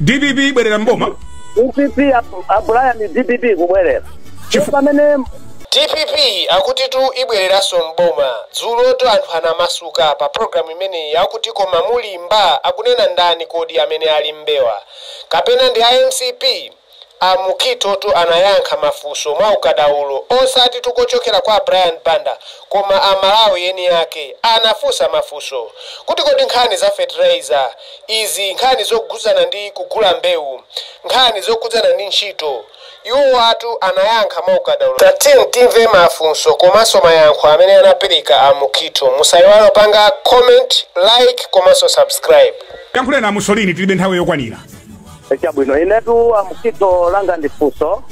dpp ibwerera mboma dpp abu- a Brian dpp kubwerera Chifukwa pamene dpp akutitu ibwereranso mboma dzulotu anthu anamasuka pa programu imeneyi akuti koma mulimba akunena ndani kodi amene ali mbewa kapena ndi a mcp A Mukhithotu anayankha mafunso mwa ukadaulo osatitu kuchokera kwa a Brian Banda koma a Malawi eni ake. Anafunsa mafunso kuti kodi nkhani za fertilizer izi, nkhani zokhudzana ndi kugula mbewu, nkhani zokhudzana ndi ntchito, iwowatu anayankha mwa ukadaulo. Tatiyeni timve mafunso komanso mayankho amene anapereka a Mukhitho. Musaiwale kupanga comment, like komanso subscribe. Yankhuleni a Mussolini tilibe nthawi yokwanira. chabwino inetu a Mukhitho langa ndi funso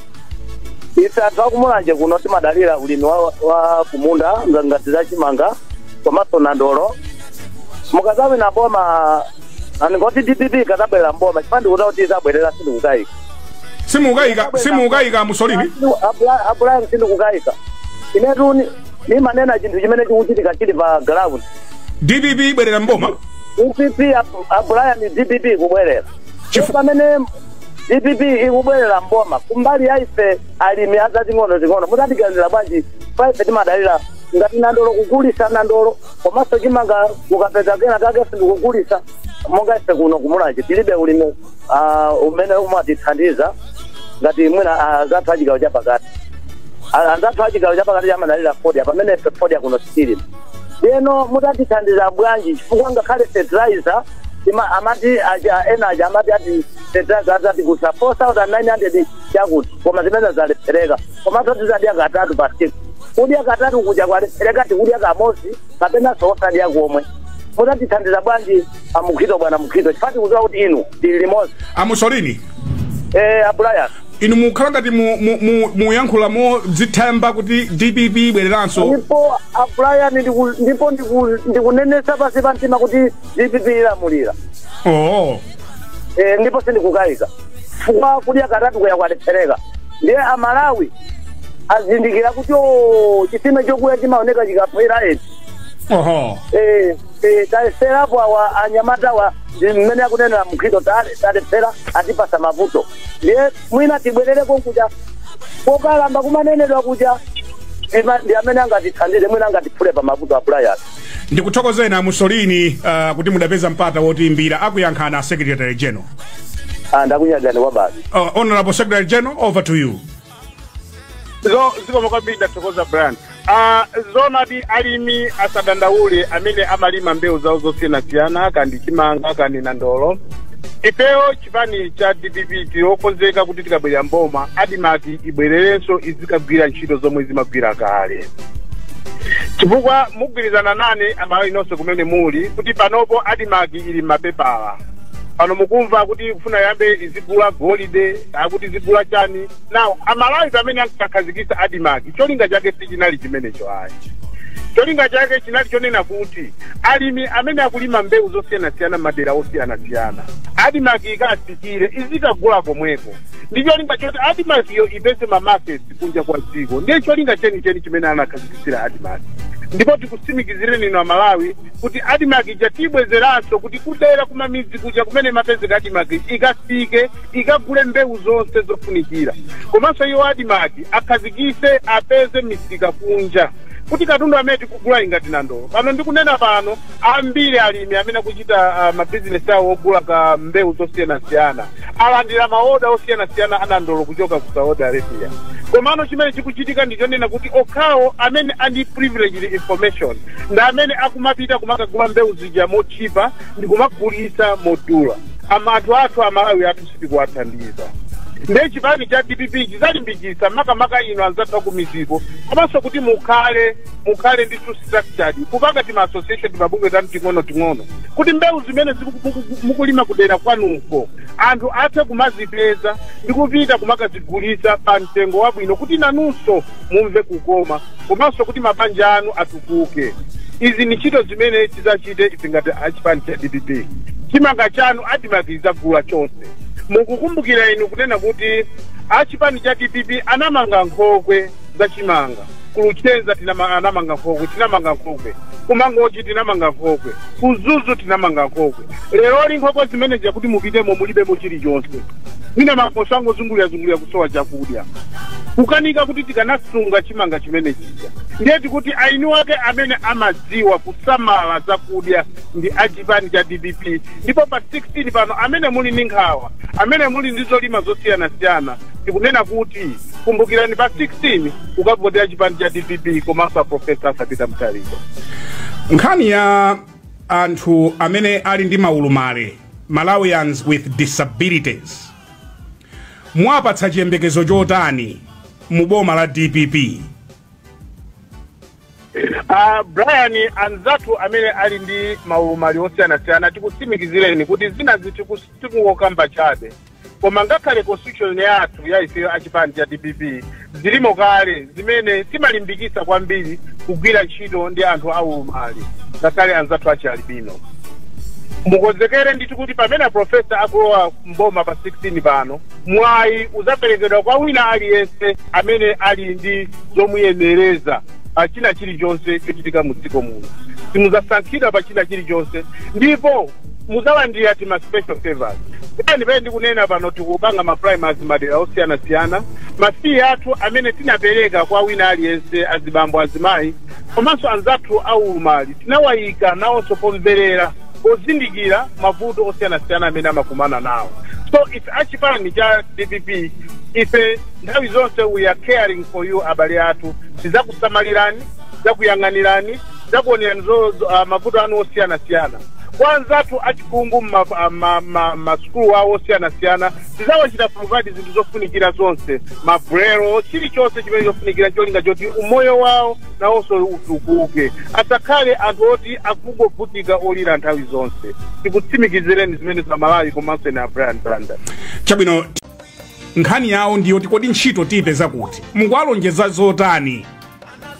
ife anthu a ku Mulanje kuno timadalira ulimi wa, wa kumunda nga- ngati za chimanga komanso nandolo mukazawina boma ndingoti dpp ikazabwerera mboma chifukwa ndikudziwa kuti izabwerera sindikukayika simukayika simukayika Mussolini a Brian sindikukayika inetu ni- nimanena chinthu chimene chikuchitika chili pa ground dpp ibwerera mboma dpp a Brian dpp kubwerera Chifukwa pamene dpp ikubwerera mboma kumbali ya ife alimi ang'ono ting'ono mutatiganizira bwanji poti ife timadalira ngati nandolo kugulisa nandolo komanso chimanga ukapeza kena kake ndikugulisa monga ife kuno ku Mulanje tilibe ulimi ah, umene umatithandiza ngati mwina azathu achigawo chapakati A- anzathu achigawo chapakati amadalira fodya pamene ife fodya kuno sitilima ndiyeno mutatithandiza bwanji chifukwa ngakhale fertilizer Tima- amati aja ena aja amati ati feteleza atigulisa 4900 chakuti koma zimene zalephereka komanso tizadya katatu pa tsiku kudya katatu kuja kwalephereka tikudya kamozi kapenanso osadya komwe mutatithandiza bwanji a Mukhitho bwana Mukhitho chifukwa tikudziwa kuti inu tili limodzi a Mussolini eh a Brian inu mukhala ngati mu- mu- mu- muyankhula mozithemba kuti dpp ibwereranso ndipo a Brian ndipo ndiku- ndikunenesa pasi pa mtima kuti dpp ilamulira oo Eh, ndipo sindikukayika chifukwa kudya katatu kuya kwalephereka ndiye amalawi azindikira kuti o chitsime chokuya chimaoneka chikaphwa eti oho Eh, eh, tayeserapo awa anyamatawa ndi mmene akunenera Mukhitho alephera atipasa mavuto ndiye mwina tibwerereko kuja kokalamba kumanenedwa kuja ndi ma- ndi amene angatithandize mwina angatiphule pa mavuto a Brian ndikuthokozeni a mussolini uh, kuti mudapeza mpata wotiimbira akuyankhani a secretary general Ah, ndakunyadani kwabasi uh, honorable secretary general over to you zo zikomo kwambiri ndathokoza Brian Ah, zoonadi alimi asadandaule amene amalima mbewu zawo zosiyanasiyana kaya ndi chimanga kaya ndi nandolo ifeyo chipani cha dpp tili okonzeka kuti tikabwerera mboma admarc ibwererenso izikagwira ntchito zomwe zimagwira kale chifukwa mugwirizana nane amalawi nonse kumene muli kuti panopo admarc ili m'mapepala pano mukumva kuti ikufuna yambe izigula golide akuti izigula chani now amalawi pamene ankakhazikitsa admarc cholinga chake sichinali chimenecho ayi cholinga chake chinali chonena kuti alimi amene akulima mbewu zosiyanasiyana madera osiyanasiyana admarc ikatsikire izikagula komweko ndi cholinga choti admarc iyo ipeze mamaketi kunja kwa dziko ndiye cholinga chenicheni chimene anakhazikitsira admarc ndipo tikutsimikizireni inu amalawi kuti admarc ija tiyibwezeranso kuti kudera kumamidzi kuja kumene imapezeka admarc ikafike ikagule mbewu zonse zofunikira komanso iwo admarc akhazikitse apeze misika kunja kuti katundu amene tikugula ngati nandolo pano ndikunena pano ambiri alimi amene akuchita ah, mabizinesi awo ogula ka mbewu zosiyanasiyana alandira maoda osiyanasiyana anandolo kuchoka ku saudi arabia komano chimene chikuchitika ndi chonena kuti okhawo amene ali ndi privileged information ndi amene akumapita kumakagula mbewu zija motchipa ndi kumagulitsa modula Am, anthu athu amalawi athu sitikuwathandiza nde chipani cha dpp chizalimbikitsa makamaka inu anzathu akumidziko komanso kuti mukhale mukhale ndi tu structured kupanga tima association timabungwe tanu ting'ono ting'ono kuti mbewu zimene ziku- muku- mukulima kudera kwanuko anthu athe kumazipeza ndi kupita kumakazigulitsa pa mtengo wabwino kuti nanunso mumve kukoma komanso kuti mabanja anu atukuke izi ni ntchito zimene tidzachite ife ngati achipani cha dpp chimanga chanu admarc idzagula chonse mukukumbukira inu kunena kuti achipani cha dpp anamanga nkhokwe za chimanga kuluchenza tinama- anamanga nkhokwe tinamanga nkhokwe kumangochi tinamanga nkhokwe kumzuzu tinamanga nkhokwe leroli nkhokwe zimene zija kuti mupitemo mulibemo chilichonse mwina makoswe angozungulirazungulira kusowa chakudya kukanika kuti tikanasunga chimanga chimene chija ndiye tikuti eni ake amene amadziwa kusamala zakudya ndi achipani cha dpp ndipo pa 16 pano amene muli ndi nkhawa amene muli ndi zolima zosiyanasiyana tikunena kuti kumbukirani pa 16 kukavotera chipani cha dpp komanso a profesa arthur peter mutharika nkhani ya anthu amene ali ndi maulumali malawians with disabilities mwapatsa chiyembekezo chotani mu boma la dpp Uh, brian anzathu amene ali ndi maulumali osiyanasiyana tikutsimikizireni kuti zinazi tiku- tikungokamba chabe koma ngakhale constitution yathu ya ifeyo achipani cha dpp zilimo kale zimene zimalimbikitsa kwambiri kugwira ntchito ndi anthu aulumali ngakhale anzathu achialibino mukonzekere ndithu kuti pamene aprofesa akulowa mboma pa 16 pano mwayi uzaperekedwa kwa wina aliyense amene ali ndi zomuyenereza pa china chilichonse chochitika mu dziko muno simuzasankhidwa pa china chilichonse ndipo muzalandira tima special favors pamene pamene ndikunena pano tikupanga ma primaries madera osiyanasiyana ma fee athu amene tinapereka kwa wina aliyense azibambo azimayi komanso anzathu aulumali tinawayika nawonso pomverera pozindikira mavuto osiyanasiyana amene amakumana nawo so ife achipani cha dpp ife nthawi zonse we are caring for you abale athu tizakusamalirani tidzakuyang'anirani zakuonerani zo, zo, uh, mavuto anu osiyanasiyana kwa anzathu achikungu masukulu ma, ma, ma sukulu awo osiyanasiyana tizawachita provide zinthu zofunikira zonse ma umbrella chilichonse chimene chofunikira cholinga choti umoyo wawo nawonso utukuke asakhale anthu oti akungovutika olira nthawi zonse tikutsimikizireni zimenezo amalawi komanso inu brian banda chabwino nkhani yawo ndiyoti kodi ntchito tiyipeza kuti mukuwalonjeza zotani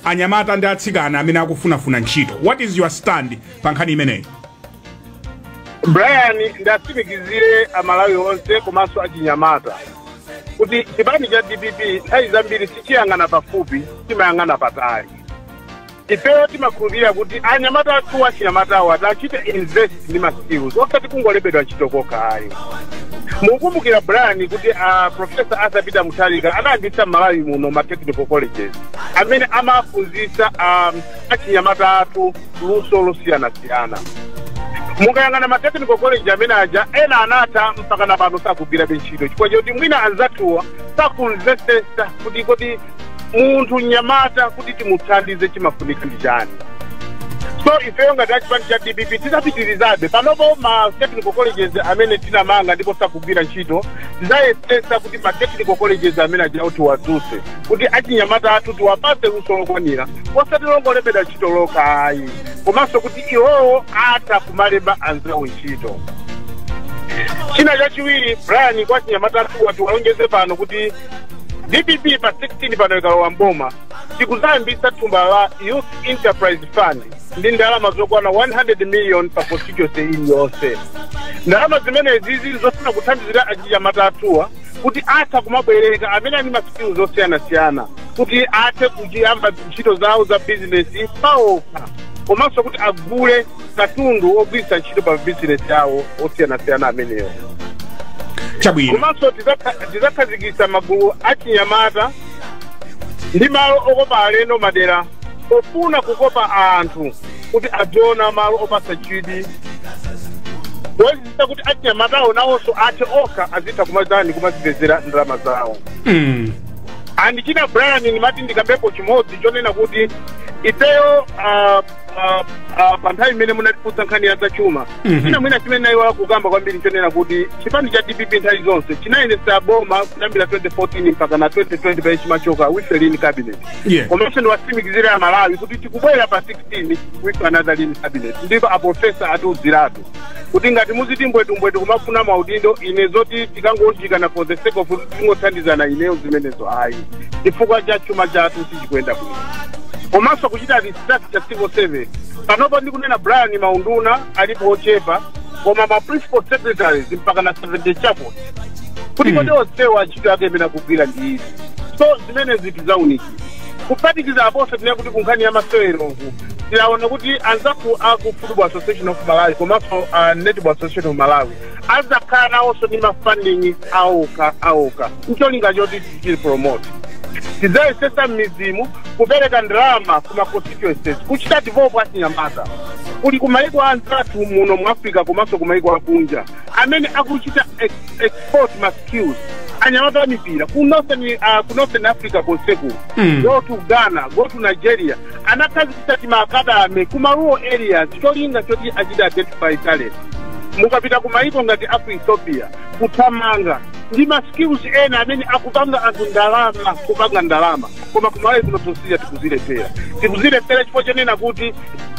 anyamata ndi atsikana amene akufunafuna ntchito what is your stand pa nkhani imeneyi brian ndiwatsimikizire amalawi onse komanso achinyamata kuti chipani cha dpp nthawi zambiri sichiyang'ana pafupi chimayang'ana patali ifeyo timakhulupirira kuti anyamata athu achinyamatawo ati achite invest ndi ma skills osati kungolembedwa ntchito kokha ayi mukumbukira brian kuti uh, profesa arthur peter mutharika anayambitsa mmalawi muno ma technical colleges amene amaphunzitsa um, achinyamata athu luso losiyanasiyana mukayang'ana ma technical college amene aja ena anatha mpaka na pano sakugwirabe ntchito chifukwa choti mwina anzathuwa sakumvesesa kuti kodi munthu mnyamata kuti timuthandize chimafunika ndi chani so ifeyo ngati achipani cha dpp tidzapitirizabe panopo ma technical colleges amene tinamanga ndipo sakugwira ntchito tidzayesesa kuti ma technical colleges amene ajawo tiwadzuse kuti achinyamata athu tiwapase luso lokwanira osati longolembedwa ntchito lokha ayi komanso kuti iwowo atha kumalemba anzawo ntchito china chachiwiri brian kwa achinyamata athuwa tiwalonjeze pano kuti dpp pa 16 pano ikalowa mboma tikuzayambisa thumba la youth enterprise fund ndi ndalama zokwana 100 million pa constituency iliyonse ndalama zimenezi zili zofuna kuthandizira achinyamata athuwa kuti atha kumabwereka amene ali ndi ma skills osiyanasiyana kuti athe kuyamba ntchito zawo za bizinesi paokha komanso kuti agule katundu ogwiritsa ntchito pa bizinesi yawo osiyanasiyana amenewo chabwino komanso tizakha- tizakhazikitsa magulu achinyamata ndi malo okopa alendo madera pofuna kukopa anthu kuti aziona malo opatsa chidwi kuonetsetsa kuti achinyamatawo nawonso athe okha azitha kumazani kumazipezera ndalama zawo mm. and china brian ndimati ndikambepo chimodzi chonena kuti ifeyo ah, ah, ah, pa nthawi imene munatifunsa nkhani ya zachuma Mhm. china mwina chimene ndayiwala kukamba kwambiri chonena kuti chipani cha dpp nthawi zonse chimayendetsa boma kuyambira 2014 mpaka na 2020 pamene chimachoka with a lean cabinet Yeah. komanso ndiwatsimikizire a malawi kuti tikubwera pa 16 with another lean cabinet ndipo aprofesa atiudziratu kuti ngati muziti mbwetumbwetu kumafuna maudindo ine zoti tikangounjikana for the sake of tingothandizana ineyo zimenezo ayi chifukwa cha chuma chathu sichikuyenda bwino komanso kuchita research civil service panopa ndikunena brian maunduna alipo ochepa koma ma principal secretaries mpaka na 70 chakuti kuti kodi onsewa ntchito yake imene akugwira ndi izi so zimenezi tizaunika kuphatikiza aponso tinene kuti kunkhani ya maseweroku tinaona kuti anzathu aku football association of malawi komanso uh, netball association of malawi azakhala nawonso ndi mafunding awokha awokha ncholinga choti Tichite promote. Tidzayesesa m'midzimu kupereka ndalama ku ma constituencies kuchita develop achinyamata kuli ku maiko anzathu muno mu Africa komanso ku maiko akunja amene akuchita ex export ma skills anyamata amipira ku northern, uh, ku northern africa konseku mm. go to ghana go to nigeria anakhazikitsa tima academy ku marural areas cholinga choti achite identify talent mukapita ku maiko ngati aku ethiopia kuthamanga ndi ma skills ena amene akupanga anthu ndalama kupanga ndalama koma kumalawi kuno tosiya tikuzilekerera tikuzilekerera chifukwa chonena kuti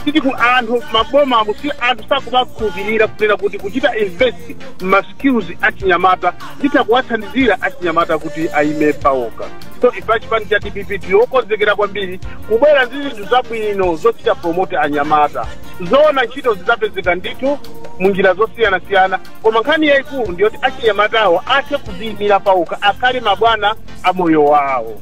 titi ku anthu mabomamu si anthu sakumakhulupirira kunena kuti kuchita invest ma skills achinyamata nditha kuwathandizira achinyamata kuti ayime pawokha so ife chipani cha dpp ndi okonzekera kwambiri kubwera ndi zinthu zabwino zochita promote anyamata zoona ntchito zidzapezeka ndithu mu njira zosiyanasiyana koma nkhani yayikulu ndi yoti achinyamatawo athe kudziyimira pawokha akhale mabwana a moyo wawo